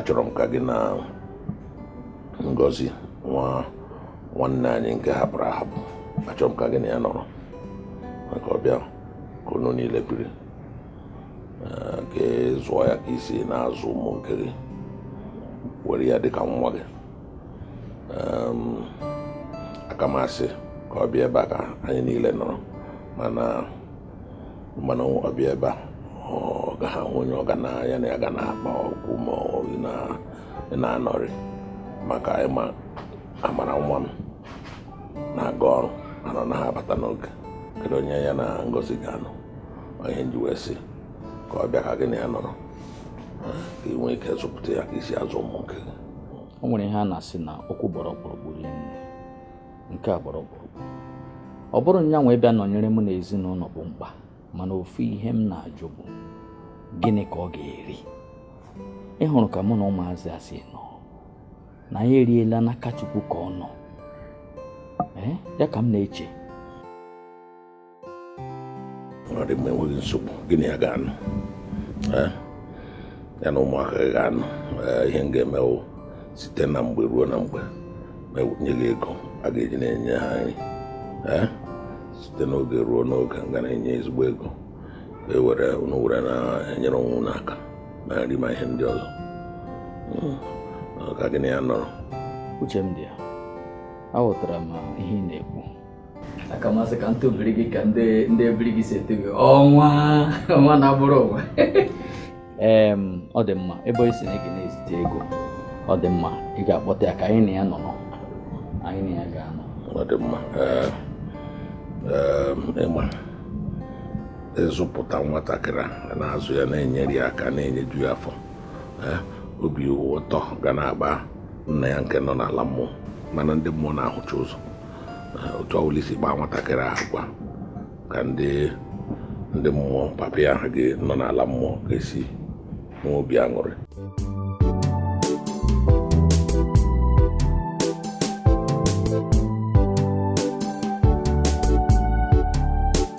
achọrọ m ka gị na Ngozi nwa nwanne anyị nke hapụrụ ahapụ achọrọ m ka gị na ya nọrọ ka ọ bịa ka unu niile biri ka ị zụọ ya ka i si na-azụ ụmụ nke gị were ya dịka nwa gị aka m asị ka ọ bịa ebe a ka anyị niile nọrọ mana ị ma na ọ bịa ebe a ọ gaghị ahụ onye ọ ga na ya na ya ga na-akpakọ ma ọ na-anọrị maka ị ma Amara nwa m na-aga ọrụ mana ọ naghị abata n'oge kedu onye ya na Ngozi ga-anọ ọ ihe m ji wee sị ka ọ bịa ka gị na ya nọrọ ka ị nwee ike zụpụta ya ka i si azụ ụmụ nke gị o nwere ihe a na-asị na okwu gbara ọkpụrụkpụ rinne nke a gbara ọkpụrụkpụ ọ bụrọ nya nwa ịbịa nọnyere m na ezinụlọ bụ mkpa mana ofu ihe m na-ajụ bụ gịnị ka ọ ga-eri ị hụrụ ka mụ na ụmụazị a si nọ na anyị eriela n'aka Chukwu ka ọ nọ ya ka m na-eche ọ dị mma enweghị nsogbu gị na ya ga-anọ eh? ya na ụmụaka ga-anọ eh, ihe m ga-eme wụ site na mgbe ruo na mgbe m enye gị ego a ga-eji na-enye ha nri eh? site n'oge ruo n'oge m ga na-enye ezigbo ego e were unu were na-enyere onwe unu aka na nri ma ihe ndị ọzọ hmm. ka gị na ya nọrọ uche m dị ya aghọtara m ihe ị na-ekwu aka m asị ka m tubiri gị ka ndị ndị ebiri gị si etu gị ọnwa ọnwa na-agbara ụwa ee ọ dị mma ebe ị sị na ị ga na-ezite ego ọ dị mma ị ga-akpọta ya ka anyị na ya nọ anyị na ya ga-anọ ọ dị mma ị ma ị zụpụta nwatakịrị na-azụ ya na-enyere ya aka na-enyeju ya afọ obi ụtọ ga na-agba nna ya nke nọ n'ala mmụọ ị ma na ndị mmụọ na-ahụcha ụzọ otu ọbụla i si kpaa nwatakịrị ahụ agwa ka ndị ndị mmụọ papa ya ahụ ga-anọ n'ala mmụọ ga-esi nwee obi aṅụrị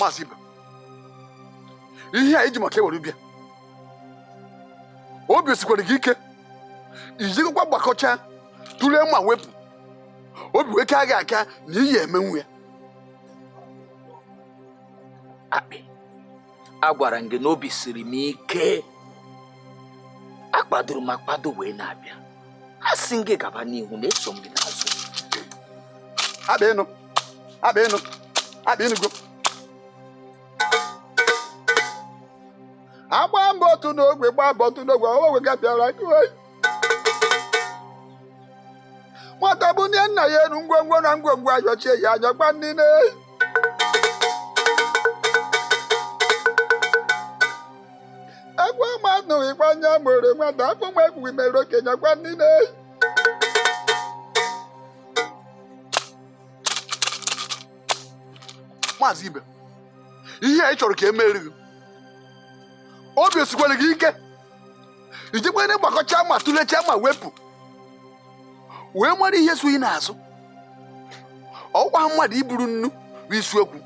maazị Ibe ihe anyị ji maka ya were bịa obi o sikwara gị ike i jikọkwa gbakọchaa tụlee ma wepụ obi wee kaa gị aka na ị ya-emenwu ya akpị agwara m gị na obi siri m ike akpadoro m akpado wee na-abịa a sị m gị gaba n'ihu na eso m gị n'azụ Abịa ịnụ, abịa ịnụ, abịa ịnụgo. Agba mbọ otu n'ogwe, gba mbọ otu n'ogwe, ọ nweghị gabịara. nwata bunie nna ya enu ngwongwo na ngwongwo ayọchie ya anya gwa ndị na ekwuo ma anụghị kwa nya mere nwata afụ ma ekwughị mere okenye gwa ndị na maazị ibe ihe a ị chọrọ ka e mere gị obi esikwere gị ike ijikwa na ị gbakọcha ma tụlechaa ma wepụ wee mara ihe so ị n'azụ ọkwa mmadụ iburu nnu bụ isiokwu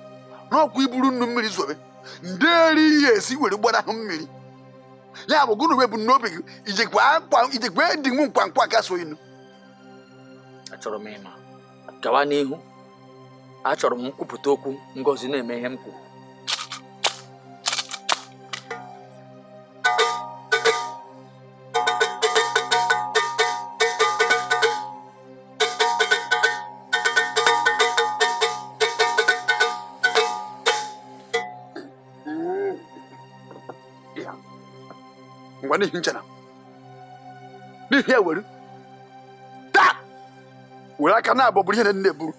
n'ọkwa iburu nnu mmiri zobe ndị eri ihe esi were gbanahụ mmiri ya bụ gụnụ webụ n'obi gị ijikwa akwa ijikwa dị m nkwa nkwa ka so inu achọrọ m ịma gawa n'ihu achọrọ m m kwupụta okwu ngozi na-eme ihe m kwuru ngwa n'ihi ncha na n'ihi ewere were aka naabọ buru ihe na nne buru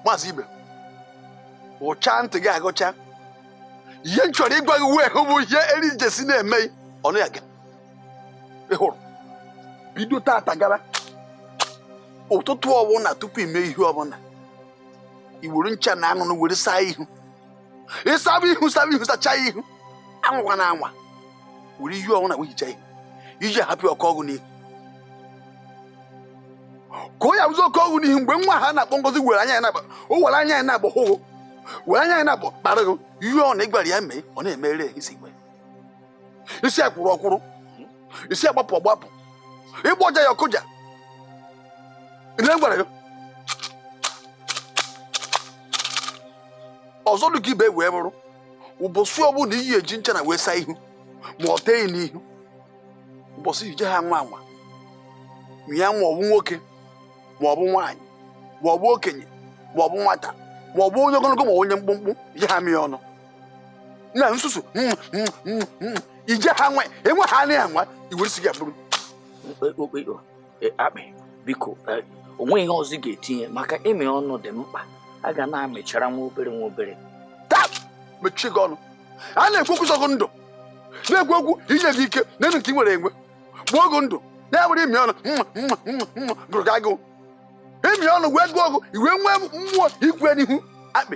maazị ibe gụchaa ntị gị agụcha ihe m chọrọ ịgwa gị wee hụ bụ ihe eri njesi na-eme ọnụ ya gị ị hụrụ bido tata gara ụtụtụ ọbụla tupu ime ihe ọbụla i were ncha na anụnụ were saa ihu ịsaba ihu saba ihu sachaa ihu anwakwana anwa were ihe ọbụna wee hichaa ihu ị je-ahapụ ọ kọọ gị n'ihu ka ọ ya-abụzi ọ kọọ gị n'ihu mgbe nwa ha na-akpọ ngozi were anya ya naabọ were anya ya naabọ hụ gị were anya ya naabọ kpara gị ihe ọbụna ị gwara ya mee ọ na-emere isi gwe ị sị ya kwụrụ ọ kwụrụ ị sị ya gbapụ ọ gbapụ ị gbọjaa ya ọ kụja ị na-egwara gị ọzọ dị ka ibe wee bụrụ ụbọchị ọbụla ị ya-eji ncha na wee saa ihu ma ọ tee gị n'ihu ụbọchị ije ha nwa anwa ma ya ma ọ bụ nwoke ma ọ bụ nwaanyị ma ọ bụ okenye ma ọ bụ nwata ma ọ bụ onye ogologo ma onye mkpụmkpụ ije ha mịa ọnụ na nsusu mm, mm, mm, mm. ije ha nwa enwe ha anaghị anwa i were isi gị abụrụ okpokpo e, akpị biko e, o nweghị ihe ọzọ ga-etinye maka ịmị ọnụ dị mkpa a ga na-amịchara nwa obere nwa obere taa mechie gị ọnụ a na-ekwu okwu sọ gị ndụ na-ekwu okwu inye gị ike na enu nke ị nwere enwe gbuo gị ndụ na-enwere ịmị ọnụ mma mma mma mma gụrụ gị agụụ ịmị ọnụ wee gụọ gị ị wee nwee mmụọ ikwe n'ihu akpị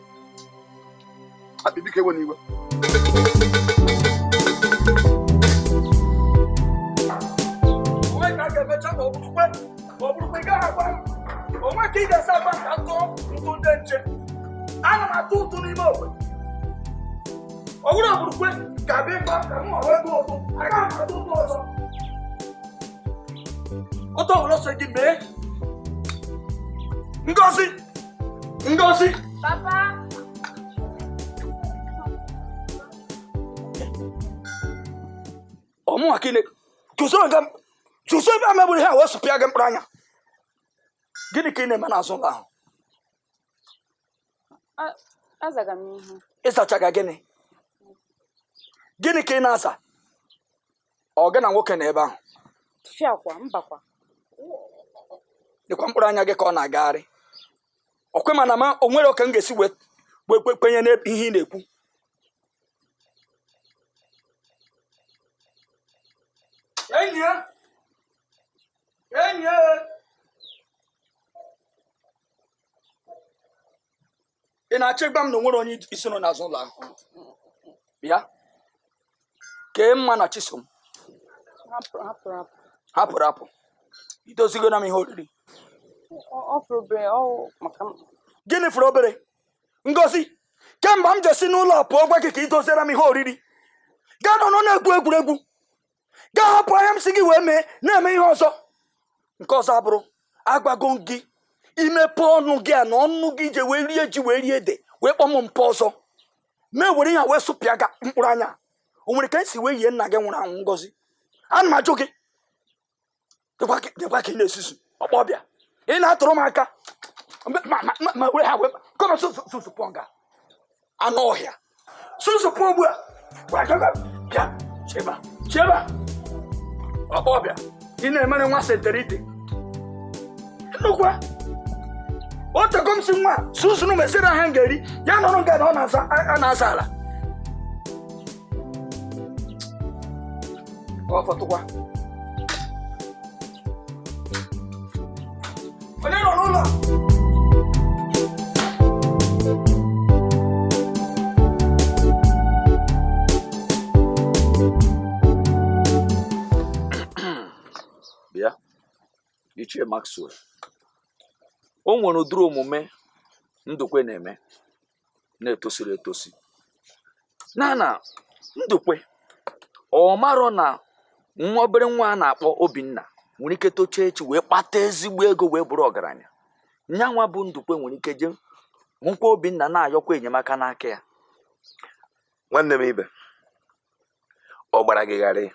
akpị biko ewena iwe o nwe ka a ga-emecha ma ọ bụrụkwe ma ọ bụrụkwe ị gaghị agwa m o nwe ka ị ga-esi agba ka m tụọ ụtụ ndị nche ana m atụ ụtụ n'ime ogbe ọ bụrụ ọ bụrụkwe ga-abịa ịgba ka m ọrụ ego ụtụ agaghị m atụ ụtụ ọzọ otu ọbụla ọ sọ gị mee ngozi Ngozi! Papa! Ọ mụwa ka ị na, chụsoro nga chụsoro ebe a ma m buru ihe a wee sụpịa gị mkpụrụ anya. Gịnị ka ị na-eme n'azụ ụlọ ahụ? Azaga m ihe. Ị zachaga gịnị? Gịnị ka ị na-aza? ọ gị na nwoke nọ ebe ahụ fiakwa mbakwa lekwa mkpụrụ anya gị ka ọ na-agagharị ọkwe mana ma o nwere ka m ga-esi wee wee kwe- kwenye n'ebe ihe ị na-ekwu enyi ya enyi ya ị na-achọ ịgwa m na o nwere onye i so nọ n'azụ ụlọ ahụ bịa kee mma na chisom ha pụrụ ha pụrụ apụ ha pụrụ apụ i dozigoro m ihe oriri Ọ- ọ fọrọ obere ọ maka m gịnị fọrọ obere ngozi kemgbe m ji si n'ụlọ pụọ gwa gị ka i doziere m ihe oriri gaa nọ nọ na-egwu egwuregwu gaa hapụ ihe a m sị gị wee mee na-eme ihe ọzọ nke ọzọ abụrụ agwago m gị i mepe ọnụ gị a na ọnụ gị i ji wee rie ji wee rie ede wee kpọọ m mpa ọzọ ma m were ihe wee sụpịa gị mkpụrụ anya o nwere ka m si wee yie nna gị nwụrụ anwụ ngozi ana m ajụ gị lekwa ka ị na-esusu ọkpọ ọbịa ị na-atụrụ m aka ma m were ihe a wee kọrọ susupụ nga anụ ọhịa susupụ ugbu a bịa cheba cheba ọkpọ ọbịa ị na-emere nwa senterite nnukwu o teego m sị nwa susunu meziere ihe a m ga-eri ya nọrọ nga na ọ na-aza ala ọ fọtụkwa onye nọ n'ụlọ bịa ichie maxwell o nwere ụdịrị omume ndukwe na-eme na-etosirọ etosi na na ndukwe ọ marọ na nwa obere nwa a na-akpọ obinna nwere ike tocha echi wee kpata ezigbo ego wee bụrụ ọgaranya nya nwa bụ ndukwe nwere ike je hụkwa obinna na-ayọkwa enyemaka n'aka ya nwanne m ibe ọ gbara gị gharị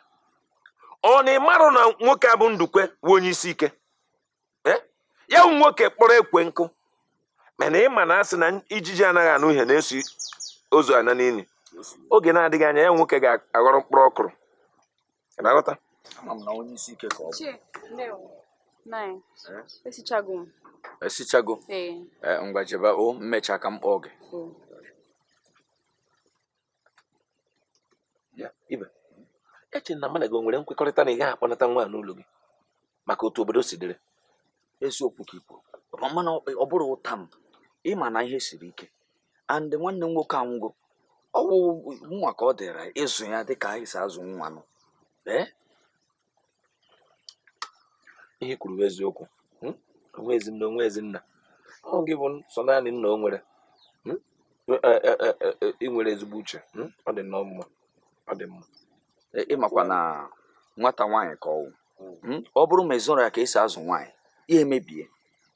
ọ na ị marọ na nwoke a bụ ndukwe wụ onye isi ike eh? ya bụ nwoke kpọrọ ekwe nkụ mana ịma na a sị na ijiji anaghị anụ ihe na-eso ozu ana n'ili oge na-adịghị anya ya nwoke ga-aghọrọ mkpụrụ ọkụrụ na-aghọta esichago eh? eh, ngwa jebe o m mecha ka m kpọọ gị ibe eche m na mụ na gị nwere nkwekọrịta na ị gaghị akpọnata nwa n'ụlọ gị maka otu obodo si dịrị eziokwu ka i kwu mana ọ bụrọ ụta m ịma na ihe siri ike and nwanne m nwoke anwụgo ọ bụ mụwa ka ọ dịrị ịzụ ya dịka anyị si azụ nwa nụ ee ihe i kwuru bụ eziokwu hmm? o nwezi nna o nwezi nna ọ gị bụ sọ naanị nna o nwere hmm? e, e, e, ị nwere ezigbo uche hmm? ọ dị nnọọ mma ọ dị mma ịmakwa na nwata nwaanyị ka ọ wụ ọ bụrụ ma ị zụrọ ya ka esi azụ nwaanyị ya emebie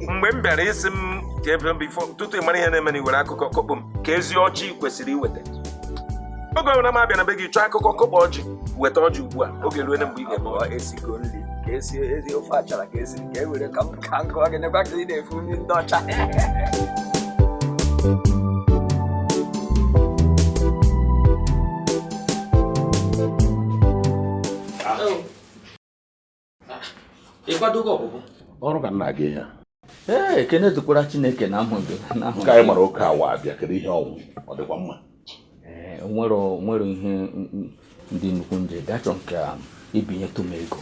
mgbe m bịara ị sị m ka ebe m before tutu ị mara ihe na-eme na i were akụkọ kọkpuo m ka ezi ọjị kwesịrị iweta oge ọbụla m abịa na be gị chọọ akụkọ kọkpuo ọjị weta ọjị ugbu a oge ruo na mgbe ị ga-eme Ọ ọjị esigo nri ka esi ezi ofe achara ka esiri ka e were ka m ka m gụọ gị nekwa ka ị na-efu nri ndị ọcha ị kwadogo ọpụpụ ọrụ ka m na-aga ee ekene dịkwara chineke na ahụ gị ka anyị mara oke awa bịa kedu ihe ọ wụ ọ dịkwa mma ee nwere nwere ihe dị nnukwu m ji bịa chọ m ka um, i binyetụ m ego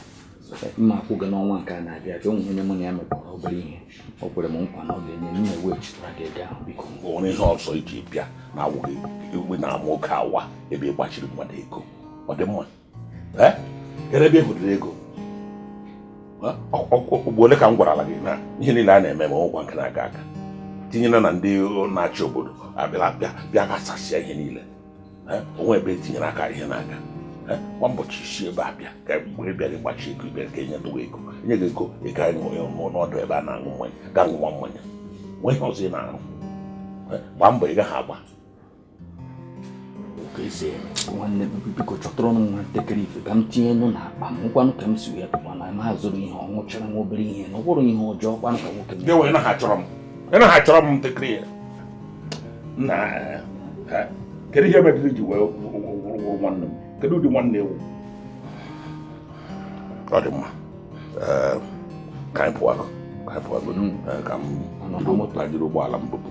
m ma akwụ gị n'ọnwa nke a na-abịa abịa o nwe onye mụ na ya mekọrọ obere ihe o kwere m nkwa na ọ ga-enye m na-eweghachitara gị ego ahụ biko o nwe ihe ọzọ i ji bịa na awụghị igwe na-ama oke awa ebe ị gbachiri mmadụ ego ọ dị mma eh? kedu ebe ị hụdịrị ego ugboro ole ka m gwarala gị na ihe niile a na-eme ugbu a onwe nke na-aga aga tinyere na ndị na-achị obodo abịala bịa ghasasịa ihe niile eh? onwe ebe e tinyere aka ihe na-aga eh? kwa ụbọchị ị si ebe a bịa ka mgbe bịara ịgbachi ego bịara ka enye dowe ego enye gị ego ị ga n'ọdụ ebe a na-aṅụ mmanya ga ṅụwa mmanya nwee ihe ọzọ ị na-arụ gbaa mbọ ị gaghị agba nwanne biko chọtụrụnụ m nwa ntakịrị ife ka m tinye nụ n'akpa m ọkwanụ ka m si wee pụkwa na m azụrụ ihe ọ wụchara nwa obere ihe na ọ bụrụ ihe ọjọọ kwanụ ka nwoke m ewe na ha chọrọ m na ha chọrọ m ntakịrị ya na kedu ihe medịrị i ji wee wụrụ nwanne m kedu ụdị nwanne ị wụ ọ dị mma ka anyị pụọ ka anyị pụọ ka m jiri ụgbọala m bupụ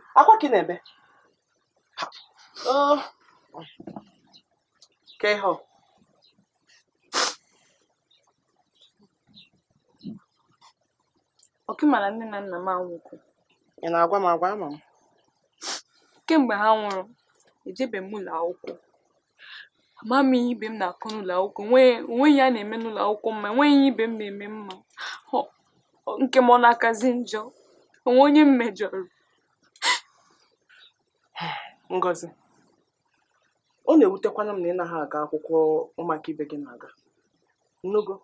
akwa ka ị na-ebe Oh. kee ihe ọ ọkwa ị mara nne na nna m anwụgo ị na-agwa m agwa ama m kemgbe ha nwụrụ ejebeghị m ụlọ akwụkwọ ama m ihe ibe m na-akọ n'ụlọ akwụkwọ onweghị ihe a na-eme n'ụlọ akwụkwọ m ma enweghị ihe ibe m na-eme m ma nke m ọ na-akazi njọ onwe onye m mejọrọ Ngozi ọ na-ewutekwanụ m na ị naghị aga akwụkwọ ụmụaka ibe gị na-aga ị nụgo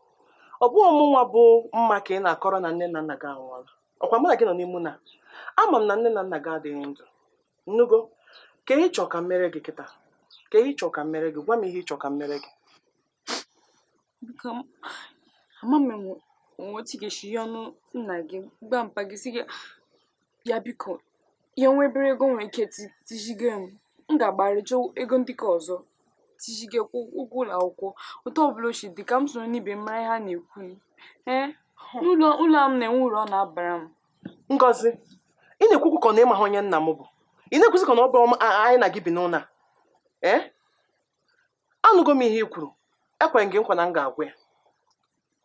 ọ bụghị mụnwa bụ Mma ka ị na-akọrọ na nne na nna gị anwụọla ọkwa mụ na gị nọ n'ime ụlọ a ama m na nne na nna gị adịghị ndụ ị nụgo kee ihe ị chọ ka m meere gị kịta kee ihe ị chọ ka m meere gị gwa m ihe ị chọ ka m meere gị ama m ma e nwe otu ị ga-esi hụnụ nna gị gwa mpa gị sị ya biko ya nwee obere ego o nwere ike tijige m m ga-agbara chọọ ego ndị nke ọzọ tijige ụgwọ ụlọ akwụkwọ otu ọbụla o shi dị ka m soro ndị ibe m mara ihe a na-ekwu ee ụlọ a m nọ enwe uru ọ na-abara m Ngozi, ị na-ekwu okwu ka ọ na ị maghị onye nna m bụ ị na-ekwuzi ka na ọ bụ anyị na gị bi n'ụlọ a ee anụgo m ihe ị kwuru ekwe m gị nkwa na m ga-agwa ya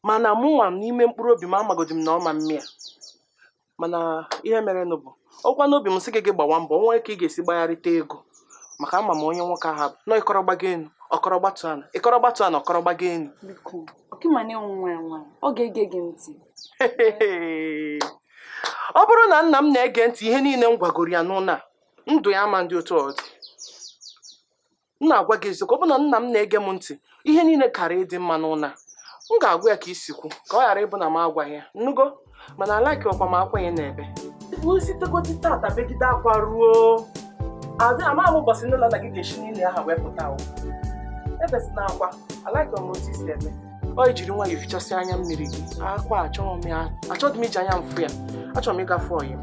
mana mụ nwa n'ime mkpụrụ obi m amagodi m na ọ ma mme ya mana ihe mere nụ bụ ọkwa n'obi m sị gị gị gbawa mbọ nwee ka ị ga-esi gbagharịta ego maka ama m onye nwoke ahụ bụ na ị kọrọ gbago enu ọ kọrọ gbatu ana ị kọrọ gbatu ana ọ kọrọ gbago enu ọkwa ị ma na ị wụ nwa ya nwaanyị ọ ga-ege gị ntị ọ bụrụ na nna m na-ege ntị ihe niile m gwagoro ya n'ụlọ a ndụ ya ama ndị otu ọ dị m na-agwa gị eziokwu ọ bụrụ na nna m na-ege m ntị ihe niile kara ịdị mma n'ụlọ a m ga-agwa ya ka i si kwu ka ọ ghara ịbụ na m agwaghị ya ị nụgo mana alaikirọkwa m akwa a ị na-ebe isi tekoti tata begide akwa ruo adị ama m ụbọchị nne na nna gị ga-esi n'ili ha wee pụta ebezina akwa alaikirọ m otu isi eme ọ ijiri nwayọ fichasịa anya mmiri gị akwa achọghị m ya achọghị m iji anya m fụ ya achọrọ m ịgafe ọyị m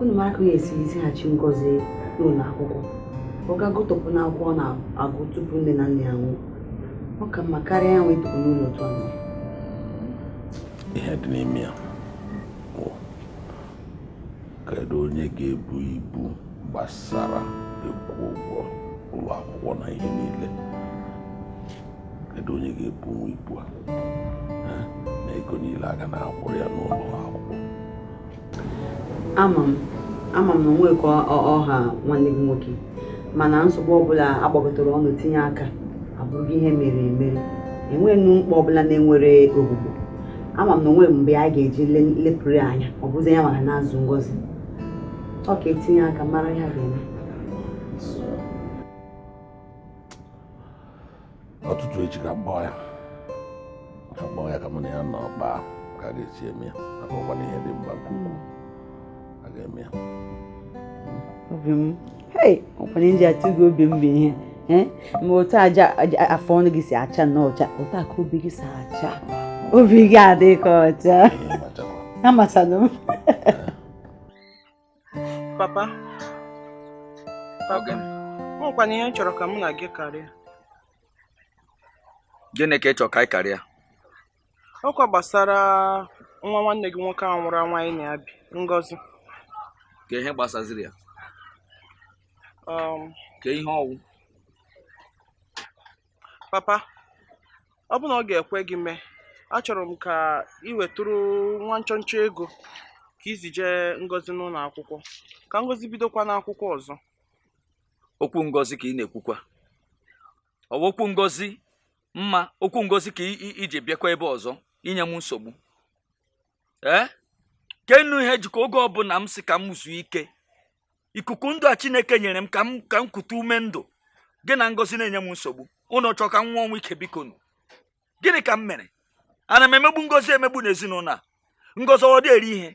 unu mara ka a ya-esi zighachi ngozi n'ụlọ akwụkwọ ọ ga gụtọpụ n'akwụkwọ ọ na-agụ tupu nne na nna ya nwụọ ọ ka mma karịa ya nwa ịtukwu n'ụlọ otu ọ nọ ihe dị n'ime ya kedu onye ga-ebu ibu gbasara ịkwụ ụgwọ ụlọ akwụkwọ na ihe niile kedu onye ga-ebunwu ibu a na ego niile a ga na-akwụrụ ya n'ụlọ akwụkwọ ama m ama m na o nwe ka ọ ha nwanne gị nwoke mana nsogbu ọbụla agbakọtara ọnụ tinye aka abụghị ihe mere emere enweghịnụ mkpa ọbụla na-enwerọ ogbugbo ama m na o nwe mgbe a ga-eji lepụrụ ya anya ọ bụzi ya maka na-azụ ngozi ọ ka etinye aka mara ihe a ga-eme ụtụtụ echi ka m kpọọ ya ka m kpọọ ya ka mụ na ya nọ kpaa ka a ga-esi eme ya maka ọkwa na ihe dị mkpa nke ukwuu a ga-eme ya obi m hei ọkwa ihe m ji atụ gị obi m bụ ihe eh? ma otu ajị afọ ọnụ gị si acha nnọọ ọcha otu a ka obi gị si acha obi gị adịka ọcha amachanụ m papa papa nwekwana ihe m chọrọ ka mụ na gị karịa gịnị ka ị chọrọ ka anyị karịa ọkwa gbasara nwa nwanne gị nwoke ahụ nwụrụ nwaanyị na-abụ ngozi kee ihe gbasaziri ya um, kee ihe ọ wụ papa ọ bụ na ọ ga-ekwe gị mee achọrọ m ka ị wetụrụ nwa nchọnchọ ego ka e zijee ngozi n'ụlọ akwụkwọ ka ngozi bidokwa n'akwụkwọ ọzọ okwu ngozi ka ị na-ekwukwa ọ wụ okwu ngozi mma okwu ngozi ka iji bịakwa ebe a ọzọ inye m nsogbu ee keenụ ihe jikọ oge ọbụla m si ka m zuo ike ikuku ndụ a chineke nyere m ka m ka m kute ume ndụ gị na ngozi na-enye m nsogbu ụnụ chọọ ka m nwụọ ọnwụ ike biko nụ gịnị ka m mere ana m emegbu ngozi emegbu n'ezinụlọ a ngozi ọ dị eri ihe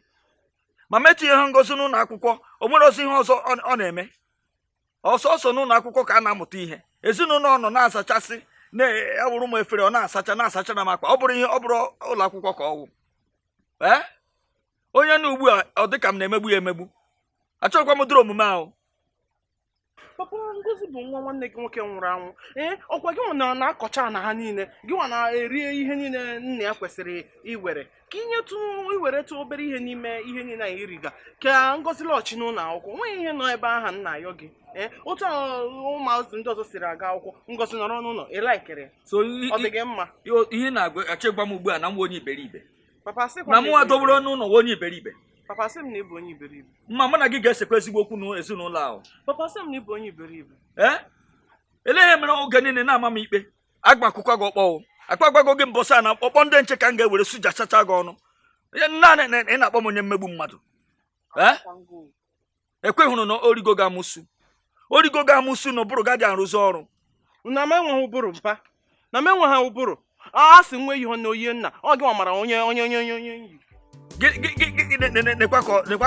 ma m etinyeghị ngozi n'ụlọ akwụkwọ o nwerọzi ihe ọzọ ọ na-eme ọ sọọsọ n'ụlọ akwụkwọ ka a na-amụta ihe ezinụlọ ọ nọ na-azachasị na-awụrụ m efere ọ na-asacha na-asacha na m akwa ọ bụrọ ihe ọ bụrọ ụlọ akwụkwọ ka ọ wụ ee onye nụ ugbu a ọ dị ka m na-emegbu ya emegbu achọghịkwa m ụdịrị omume ahụ papa ngozi bụ nwa nwanne gị nwoke nwụrụ anwụ ee ọ kwa gị nwa na-akọcha ana ha niile gị nwa na-eri ihe niile nna ya kwesịrị iwere ka i nyetụ i weretụ obere ihe n'ime ihe niile ị na-eriga ka ngozi lachi n'ụlọ akwụkwọ nweghị ihe nọ ebe aha na-ayọ gị ee otu ụmụazị ndị ọzọ siri aga akwụkwọ ngozi nọrọ n'ụlọ ị likere ya so ọ dị gị mma ihe ị na-achọ ịgwa m ugbu a na m wụ onye iberibe na mụnwa dobere n'ụlọ wụ onye iberibe papa asị m na ị bụ onye iberibe mma mụ na gị ga-esekwa ezigbo okwu n'ezinụlọ ahụ papa asị m na ị bụ onye iberibe ee elee ihe mere oge niile ị na-ama m ikpe aga m akụkwa gị ọkpọ o akpa agwago gị mbọsị a na ọkpọ ndị nche ka m ga-ewere sujachacha gị ọnụ naanị ị na-akpọ m onye mmegbu mmadụ ekwehụrụ na o rigo gị amụsu o rigo gị amụsu na ụbụrụ gị adị arụzi ọrụ na m enweghị ụbụrụ mpa na m enweghị ụbụrụ a sị nwe ihe na oyi nna ọ gị mara onye onye onye onye onye yi nekwa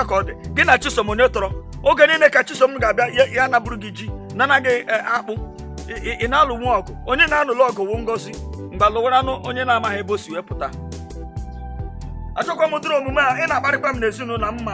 ka ọ dị gị na chisom onye tọrọ oge niile ka chisom ga-abịa ya napụrụ gị ji na-ana gị akpụ ị na-alụnwu ọgụ onye ị na-alụlụ ọgụ wụ ngozi mgbe alụwaranụ onye na-amaghị ebe o si wee pụta achọkwa m ụdịrị omume a ị na-akparịkwa m n'ezinụlọ mma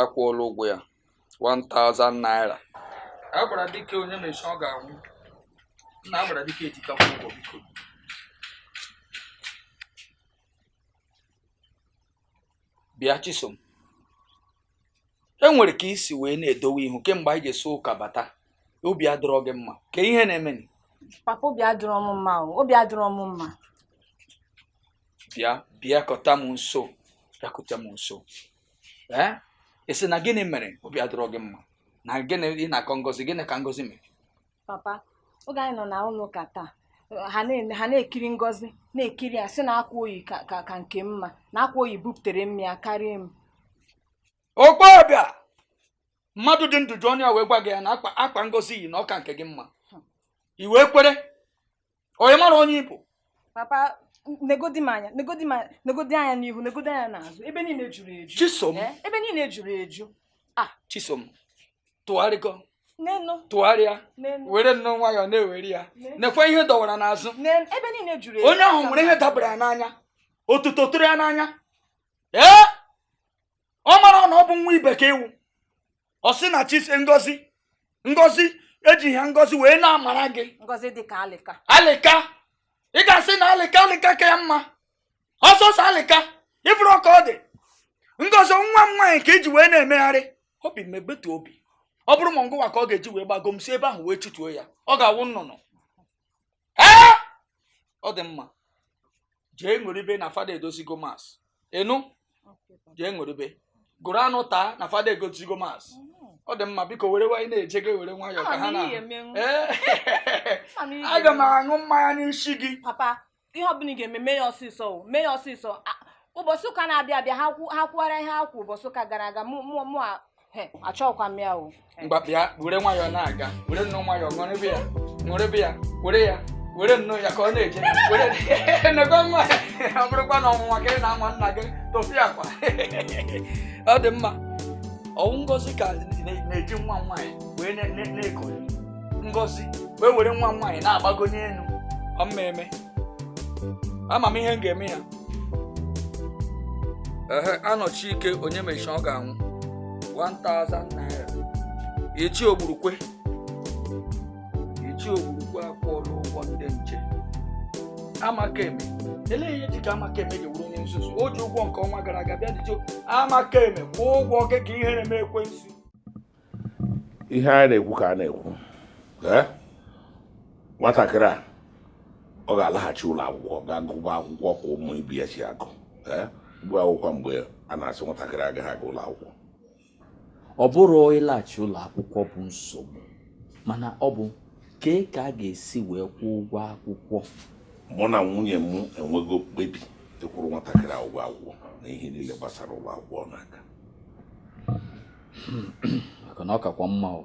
akwụọla ụgwọ ya 1000 naira a gwara dike onye mechi ọ ga-anwụ nna a gwara dike ejikakwa ụgwọ biko bịa chisom e nwere ka i si wee na-edowe ihu kemgbe anyị ji si ụka bata obi adịrọ gị mma kee ihe na-emenụ? papa obi adịrọ m mma o obi adịrọ m mma bịa bịakọta m nso bịakọta m nso ee ị sị na gịnị mere obi adịrọ gị mma na gịnị ị na-akọ ngozi gịnị ka ngozi mere papa oge anyị nọ na ụlọ ụka taa ha na-eme ha na-ekiri ngozi na-ekiri ya sị na akwa o yi ka ka ka nke m mma na akwa o yi bupụtara mma ya karịa m okpe ọbịa mmadụ dị ndụ ji ọnụ ya wee gwa gị ya na akwa akwa ngozi yi na ọ ka nke gị mma i wee kwere onye mara onye ị bụ papa negodi m anya negodi m anya negodi anya n'ihu negodi anya n'azụ ebe niile juru eju chisom eh, ebe niile juru eju ah chisom tụgharịgo tụgharịa were nnọọ nwayọọ na-ewere ya nekwa ihe dọwara n'azụ onye ahụ nwere ihe dabara ya n'anya otuto tụrụ ya n'anya ee ọ marọ na ọ bụ nwa bekee ị wụ ọ sị na chi si ngozi ngozi ejiha ngozi wee na-amara gị ngozi dị ka alịka alịka ị ga-asị na alịka alịka ka ya mma ọ sọsọ alịka ị fụrọ ka ọ dị ngozi nwa m nwaanyị ka i ji wee na-emegharị obi megbetu obi ọ bụrụ ma ngụwa ka ọ ga-eji wee gbago m si ebe ahụ wee chụtuo ya ọ ga-awụ nnụnụ ee ọ dị mma jee ṅụrịbe na fada edozigo mas ị nụ jee ṅụrịbe gụrụ anụ taa na fada egozigo mas ọ dị mma biko were nwayọọ na-eje gị were nwayọọ ka ha na aga m aṅụ mmanya n'isi gị papa ihe ọbụla ị ga-eme mee ya ọsịsọ mee ya ọsịsọ ụbọchị ụka na-abịa abịa ha kwuwara ihe ha kwu ụbọchị ụka gara aga mụ achọghịkwa m ya o ngwa bịa were nwayọọ na-aga were nnọọ nwayọọ ṅụrịbe ya ṅụrịbe ya were ya were nnọọ ya ka ọ na-eje were nego nwa ọ bụrụkwa na ọnwụnwa ka ị na-anwa nna gị tofiakwa ọ dị mma ọ wụ ngozi ka na-eji nwa nwaanyị wee na-eko ngozi wee were nwa nwaanyị na-agbago n'elu ọ mmemme ama m ihe m ga-eme ya ehe anọchi ike onye mechi ọ ga-anwụ 1000 naira ichie ogburukwe ichie ogburukwe akwụọla ụgwọ ndị nche amaka eme elee ihe ji ka amaka eme ji wụrụ onye nzuzu o ji ụgwọ nke ọnwa gara aga bịa ichie amaka eme kwụọ ụgwọ gị ka ihere mee ekwensu ihe a na-ekwu ka a na-ekwu nwatakịrị a ọ ga-alaghachi ụlọ akwụkwọ gaa gụba akwụkwọ ka ụmụ ibe ya si agụ gụọ akwụkwọ mgbe a na-asị nwatakịrị a agaghị aga ụlọ akwụkwọ ọ bụrọ ịlaghachi ụlọ akwụkwọ bụ nsogbu mana ọ bụ kee ka a ga-esi wee kwụọ ụgwọ akwụkwọ mụ na nwunye m enwego mkpebi ịkwụrụ nwatakịrị a ụgwọ akwụkwọ na ihe niile gbasara ụlọ akwụkwọ n'aka maka na ọ kakwa mma ọ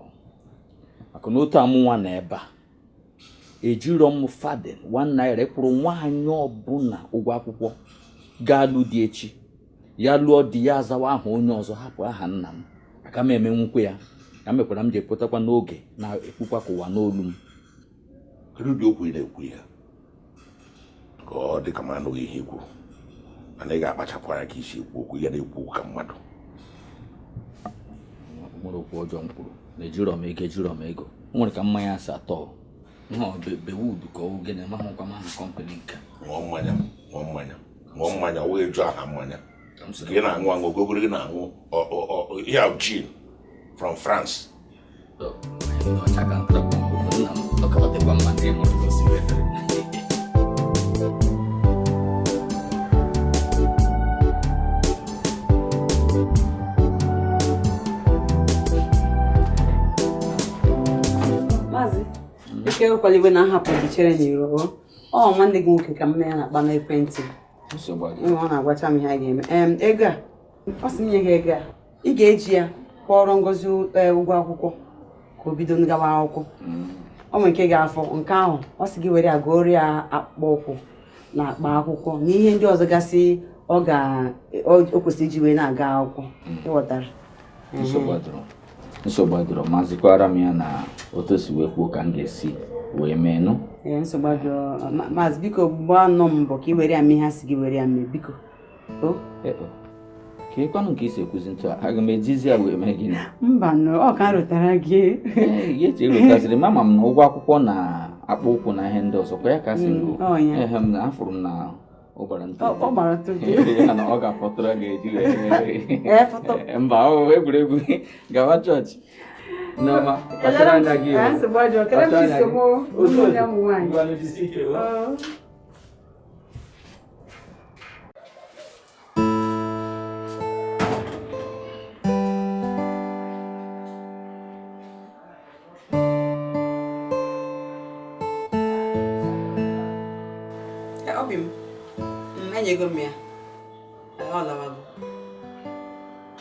maka na otu a mụnwa nọ ebe a ejirọ m farthing one naira kwụrụ nwaanyị ọbụla ụgwọ akwụkwọ ga-alụ di echi ya lụọ di ya azawa aha onye ọzọ hapụ aha nna m aka m emenwukwa ya ya mekwara m ji pụtakwa n'oge na-ekwukwa ka ụwa nụ olu m kedu ụdị okwu ị na-ekwu ya ka ọ dị ka m anụghị ihe i kwuru mana ị ga-akpachapụ anya ka i si ekwu okwu ya na-ekwu okwu ka mmadụ o nwere okwu ọjọọ m kwuru na ejirọ m ego ejirọ m ego o nwere ka mmanya si atọ bewud ka ọ gịnị amahụkwa m aha kọmpanị nke ṅụọ mmanya ṅụọ mmanya ṅụọ mmanya ọ wee jụ aha mmanya ka ị na-aṅụ aṅụ ogogoro gị na-aṅụ ihe a gin from France ike ewekwala iwe na m hapụ gị chere n'iro ọ nwanne gị nwoke ka mụ na ya na-akpa n'ekwentị ọ na-agwacha m ihe a ga-eme ego a ọ sị m nye gị ego a ị ga-eji ya kwụọrọ Ngozi e, ụgwọ akwụkwọ ka o bido ngawa akwụkwọ mm. o nwere nke ga-afọ nke ahụ ọ sị gị were ya gọọrọ ya akpụkpọ ụkwụ na akpa akwụkwọ na ihe ndị ọzọ gasị ọ ga o kwesịrị iji wee na-aga akwụkwọ mm. ị ghọtara nsogbu adịrọ ma zikwaara m ya na otu o si wee kwuo ka m ga-esi wee mee nụ nsogbu adịrọ maazị biko gbaa nụ mbọ ka ị were ya mee ihe a sị gị were ya mee biko o e, kee kwanụ nke i si ekwuzi etu a aga m ejizi ya wee mee gịnị mba nụ ọ ka rụtara gị ya eche rụtaziri m ama m na ụgwọ akwụkwọ na akpụ ụkwụ na ihe ndị ọzọ kwa ya ka a sị m gọọ mm, ehe m na afụrụ m na ọ gbara ntụ ọ gbara ntụ ya na ọ ga-afọtụrụ ga-eji wee mba egwuregwu gawa chọọchị Nneọma, kpachara anya gị o. Nsogbu ọjọọ, kele m chi nsogbu ụmụ ya ụmụ nwaanyị. obi m mm, enyego m ya ọ lawago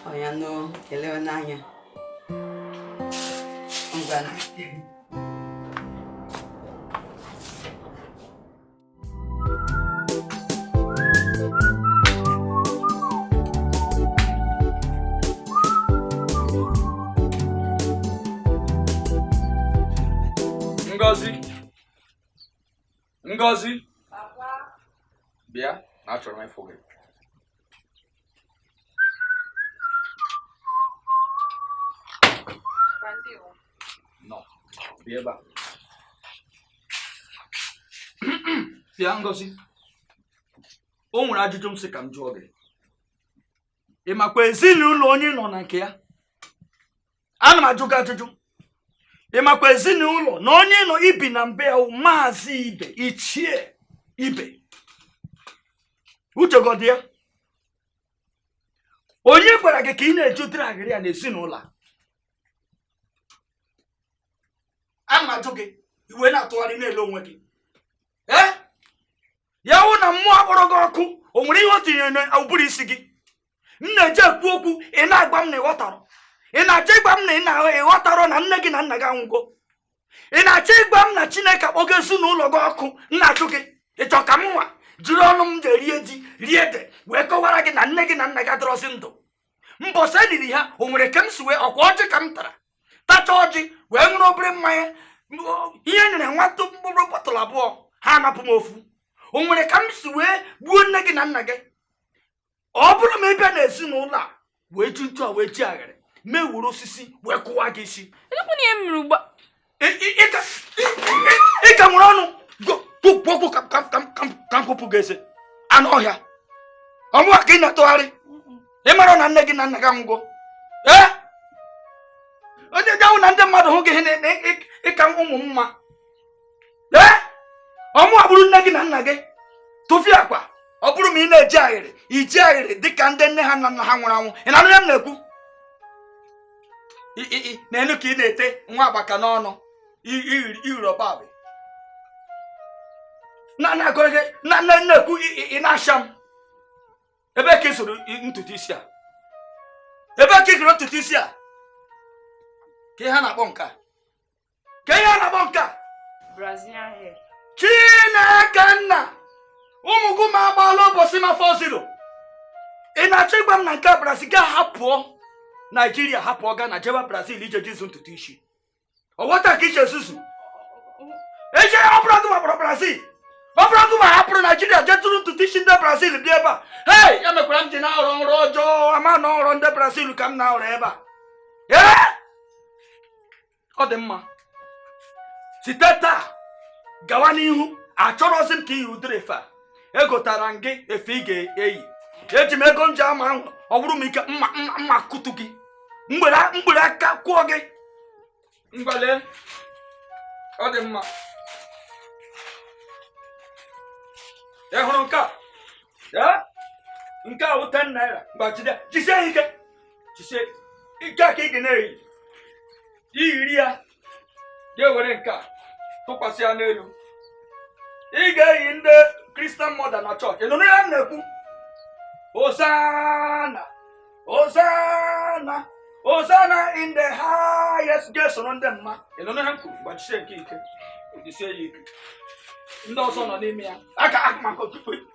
ọ ya nụ ka e lewe n'anya ngwa Ngozi Ngozi bịa na achọrọ m ịfụ gị Bịa Bịa Ngozi, o nwere ajụjụ m sị ka m jụọ gị. Ị makwa ezinụlọ onye ị nọ na nke ya? ana m ajụ gị ajụjụ ị makwa ezinụlọ na onye ị nọ i bi na be ya wụ Maazị Ibe Ichie Ibe i chegodi ya onye gwara gị ka ị na-eji ụdịrị ejiji a n'ezinụlọ a ana m ajụ gị i wee na-atụgharị na-ele onwe gị ee ya wụ na mmụọ akpọrọ gị ọkụ o nwere ihe o tinyere n'ụbụrụ isi gị m na-eje ekwu okwu ị na-agwa m na ị ghọtarọ ị na-achọ ịgwa m na ị na ị ghọtarọ na nne gị na nna gị anwụgo ị na-achọ ịgwa m na chineke akpọgo ezinụlọ gị ọkụ m na-ajụ gị ị chọ ka m nwa jiri ọnụ m ga-erie ji rie ede wee kọwara gị na nne gị na nna gị adịrọzi ndụ mbọsị e liri ha o nwere ka m si wee ọ kwa ọjị ka m tara tacha ọjị wee ṅụrụ obere mmanya ihe e nyere nwata mkpụrụ bọtụlụ abụọ ha anapụ m ofu o nwere ka m si wee gbuo nne gị na nna gị ọ bụrụ ma ị bịa n'ezinụlọ a wee ji ntu a wee ji agharị m ewuru osisi wee kụwaa gị isi ị ka nwere ọnụ ekwu okwu ka m kụpụ gị eze anụ ọhịa ọ mụwa ka ị na-atụgharị ị mara na nne gị na nna gị anwụgo ee onye ga-ahụ na ndị mmadụ hụ gị ihe na-eme ị ka ụmụ mma ee ọ mụwa bụrụ nne gị na nna gị tụfịakwa ọ bụrụ ma ị na-ejegharị ị jegharị dị ka ndị nne ha na nna ha nwụrụ anwụ ị na-anụ ihe m na-ekwu nee nu ka ị na-ete nwa agbaka n'ọnụ iri ọba abụ na na-agụrụ gị m na-ekwu ị na-asha m ebee ka ị zụrụ ntutu isi a ebee ka ị zụrụ ntutu isi a kee ihe a na-akpọ nke a kee ihe a na-akpọ nke a Brazilian hair. chineke nna ụmụ gị ma agbaala ụbọchị m afọzirọ ị na-achọ ịgwa m na nke a brazil gị hapụọ naijiria hapụọ gana jebe brazil ije je zụọ ntutu isi ọ wụ otu a ka i ji ezuzu eche ọ bụrụ gị gbapụrụ brazil ọ bụrụ gịwa hapụrụ naijiria jee zụrụ ntutu isi ndị brazil bịa ebe a hei ya mekwara m ji na-arọ nrọ ọjọọ ama na ọ nrọ ndị brazil ka m na-arọ ebe a ee ọ dị mma site taa gawa n'ihu achọrọzi m ka i yi ụdịrị efe a egotara m gị efe ị ga-eyi eji m ego m ji ama ahụ ọ bụrụ m ike m akụtu gị m were aka kụọ gị ngwa lee ọ dị mma ị hụrụ nke a nke a wụ 10 naira ngwa jide jisie ike jisie ike a ka ị ga na-eyi i yiri ya gị ewere nke a tụkwasị ya n'elu ị ga-eyi ndị kristian mọda na chọọchị ị nụrụ ihe m na-ekwu hosanna hosanna hosanna in the highest ga-esoro ndị mma ị nụrụ ihe m kwuru ngwa jisie nke a ike jisie ya ike ndị ọzọ nọ n'ime ya aka akụmakọ tupu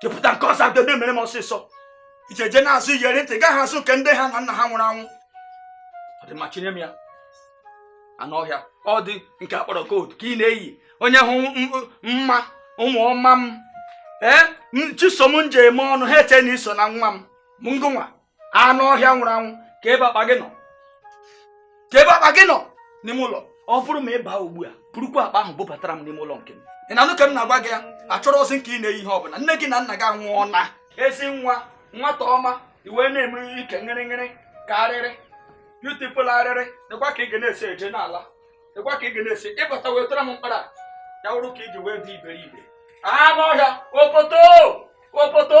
kepụta nke ọzọ a bịa na-emere m ọsịsọ ije je na-azụ iyeri ntị gaghị azụ nke ndị nne ha na nna ha nwụrụ anwụ ọ dị mma chịnye m ya anụ ọhịa ọ dị nke a kpọrọ gold ka ị na-eyi onye hụ mma ụmụ ọma m ee chisom m ji eme ọnụ ha eche na i so na nwa m ngwa anụ ọhịa nwụrụ anwụ ka ebe akpa gị nọ ka ebe akpa gị nọ n'ime ụlọ ọ bụrụ ma ị baa ugbu a burukwa akpa ahụ bubatara m n'ime ụlọ nke m ị na-anụ ka m na-agwa gị ya achọrọzi m ka ị na-eyi ihe ọbụla nne gị na nna gị amụọna ezi nwa nwata ọma iwe na-eme ike ngịrịngịrị ka arịrị beautiful arịrị dịkwa ka ị ga na-esi eje n'ala dịkwa ka ị ga na-esi ịbata wetara m mkpara ya wụrụ ka iji wee dị iberibe anụ ọhịa opoto opoto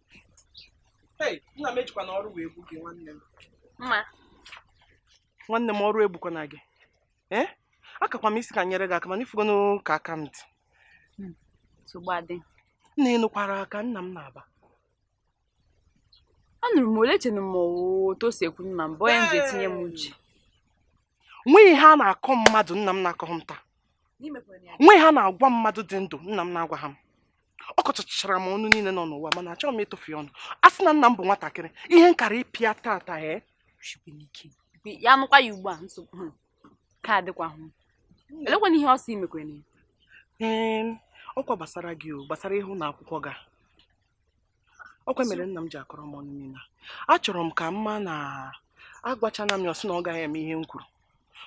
Hey, nna m ejikwana ọrụ wee gbuo gị nwanne m. mma nwanne m ọrụ egbukwana gị ee akakwa m ịsị ka m nyere gị aka mana ị fugonu ka aka m dị nsogbu adị nna ị nụkwara ka nna m na-aba anụrụ m ole chenụ m otu o si ekwu na mbụ ọ ya m ji etinye m uche nwe ihe a na-akọ mmadụ nna m na-akọghị m taa nwe ihe a na-agwa mmadụ dị ndụ nna m na-agwaghị m ọ kọchachara m ọnụ niile nọ n'ụwa mana achọghị m ịtụfu ya ọnụ a sị na nna m bụ nwatakịrị ihe m kara ịpịa tata ee eh? ya nụkwa ya ugbu a nsogbu hmm. ka adịkwa olekwanụ ihe ọ sị i mekwara ee ọkwa gbasara gị o gbasara ihe ụlọ akwụkwọ gị a ọkwa mere nna m ji akọrọ m ọnụ niile achọrọ m ka ị ma na agwachana m ya ọ sị na ọ gaghị eme ihe m kwuru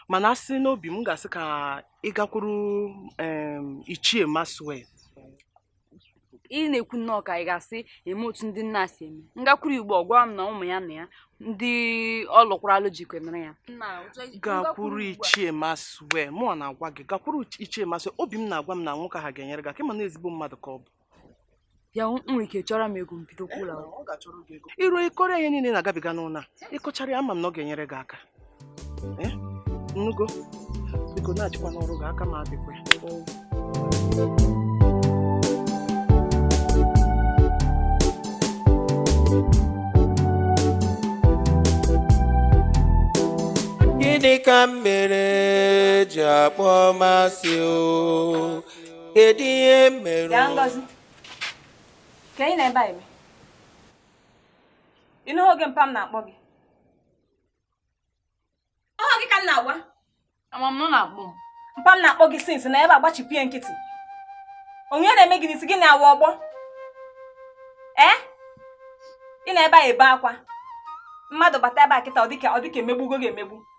mana asị n'obi m ga-asị ka ị gakwuru ichie Maxwell ị na-ekwu nnọọ ka ị ga-asị eme otu ndị nna si eme m gakwuru igbo ọ gwa m na ụmụ ya na ya ndị ọ lụkwara alụ jikwemere ya gakwuru ichie Maxwell mụ na-agwa gị gakwuru ichie Maxwell obi m na-agwa m na nwoke ahụ ga-enyere gị aka ị ma na ezigbo mmadụ ka ọ bụ ya nwere ike chọọrọ m ego m bido kwụ ụlọ akwụkwọ i ruo ị kọọrọ ya ihe niile na-agabiga n'ụlọ a ị kọchaara ya ama m na ọ ga-enyere gị aka eh? ị nụgo biko nachikwa n'ọrụ gị aka m adịkwa gịnị ka m mere i ji akpọ m asị o kedu ihe mere ya Ngozi ka ị nọ ebe a eme ị nụghị oge mpa m na-akpọ gị ọhụ gị ka m na-agwa ama m na ọ na-akpọ m mpa m na-akpọ gị since ị nọ ebe a gbachipụ ya nkịtị onye na-eme gị n'isi gị na-awa ọgbọ ee ị nọ ebe a ebe akwa mmadụ bata ebe a kịta ọ dịka ọ dịka emegbugo gị emegbu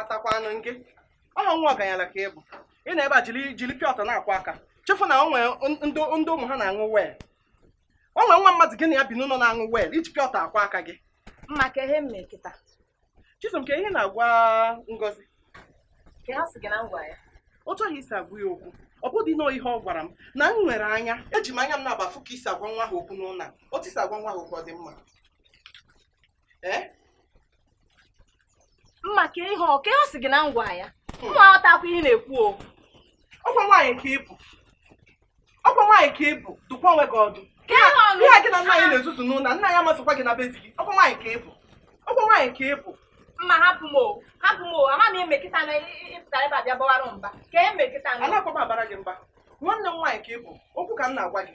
atakwanụ nke ọ nwa ọganyala ka ị bụ ị nọ ebe a jiri jiri pure water na-akwọ aka chefu na o nwe ndị ụmụ ha na-aṅụ well o nwe nwa mmadụ gị na ya bi n'ụlọ na-aṅụ well i ji pure water akwọ aka gị mma ka ihe m mee kịta chisom ka ihe ị na-agwa ngozi ka ihe ọ sị gị na m gwa ya otu ahụ i si agwa ya okwu ọ bụdị na ihe ọ gwara m na m nwere anya eji m anya m naabọ afụ ka i si agwa nwa ahụ okwu n'ụlọ a otu i si agwa nwa ahụ okwu ọ dị mma eh? mma ka ihe ka ihe ọ sị gị na m gwa ya hmm. mma aghọtakwa ihe ị na-ekwu o ọkwa nwaanyị ka ị bụ ọkwa nwaanyị ka ị bụ dụkwa onwe gị ọdụ ihe a gị na nna anyị na-ezuzu n'ụlọ nna ya amasịkwa gị na be di gị ọkwa nwaanyị ka ị bụ ọkwa nwaanyị ka ị bụ mma hapụ m o hapụ m o ama m e mee kịta na ị pụta ebe a bịa bawara m mba ka e mee kịta na anakwa m abara gị mba nwanne m nwaanyị ka ị bụ okwu ka m na-agwa gị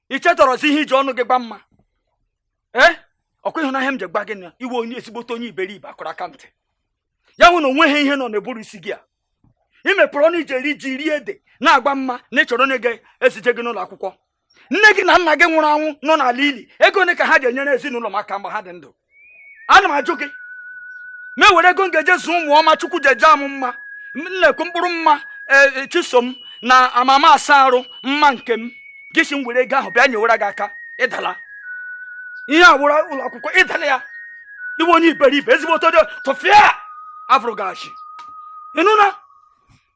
i chetarọzi ihe i ji ọnụ gị gwa mma ee ọkwa ị hụna ihe m ji gwa gị na ị wụ onye ezigbote onye iberibe a kụrụ aka ntị ya wụ na o nweghị ihe nọ n'ụbụrụ isi gị a ị mepụrụ ọnụ i ji eri ji rie ede na-agwa mma na ị chọrọ onye ga-ezije gị n'ụlọ akwụkwọ nne gị na nna gị nwụrụ anwụ nọ n'ala ili ego ole ka ha ji enyere ezinụlọ m aka mgbe ha dị ndụ ana m ajụ gị m ewere ego m ga-eji zụọ ụmụ ọma chukwu ji jaa mụ mma nnekwu mkpụrụ mma e, e, chisom na amama asa arụ mma nke m gị si m were ego ahụ bịa nyewara gị aka ị dala ihe ọ wụrụ ụlọ akwụkwọ ị dala ya ị wụ onye iberibe ezigbo otodo tụfịa afụrụ gị asị ị nụna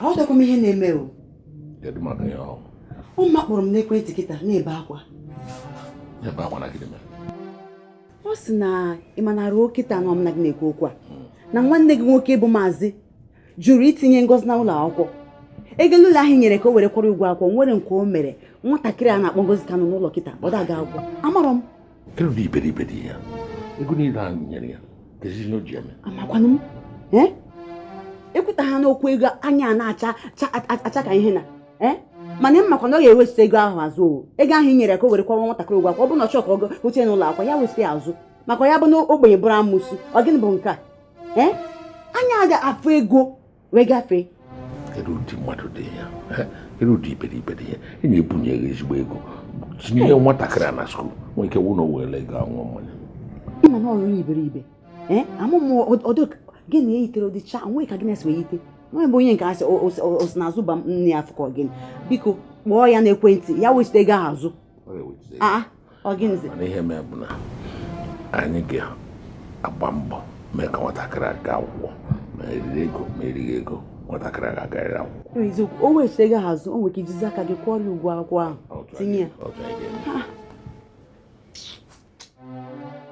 aghọtakwa m ihe na-eme o mma kpọrọ m n'ekwentị kịta na-ebe akwa ọ sị na ị ma na ruo kịta na mụ na gị na-ekwu okwu a hmm. na nwanne gị nwoke bụ maazị jụrụ itinye ngozi na ụlọ akwụkwọ ego niile ahụ i nyere ka o were kwụọrọ ụgwọ akwụkwọ o nwere nke o mere nwatakịrị a na-akpọ ngozi ka nọ n'ụlọ kịta ọ da-aga akwụkwọ amarọ m Kedu ụdị iberibe dị ya? Ego niile ahụ m nyere ya, kedu ihe o ji eme? Amakwanụ m. Eh? Ekwuta ha n'okwu ego anya na-acha acha ka ihe na. Eh? mana m makwa na ọ ga-ewechite ego ahụ azụ o ego ahụ i nyere ka o were kwụọrọ nwatakịrị ụgwọ akwụkwọ ọ bụ na ọ chọọ ka ọ gote n'ụlọ akwụkwọ ya wechite ya azụ maka ya abụna ogbenye bụrụ amụsụ ọ gịnị bụ nke a ee anya ga-afụ ego wee gafee kedu ụdị mmadụ dị ya kedu ụdị iberibe dị ya e nye e bunye gị ezigbo ego tinye nwatakịrị a na school nwee ike wụ na o were ego aṅụ mmanya ị ma na ọrụ iberibe amụmụ ọdụ gị na eyitere ụdị chaa nwee ka gị na-esi wee yite nwa bụ onye nke asị osi na azụba nne ya afụkọ gịnị biko kpọọ ya n'ekwentị ya wechite ego ahụ azụ mana ihe mee bụ na anyị ga-agba mbọ mee ka nwatakịrị a gaa akwụkwọ ma e riri ego ma e righị ego nwatakịrị a ga-agarịrị akwụkwọ eziokwu o wechite ego ahụ azụ i nwere ike ijizi aka gị kwụọrọ ya ụgwọ akwụkwọ ahụ tinye ya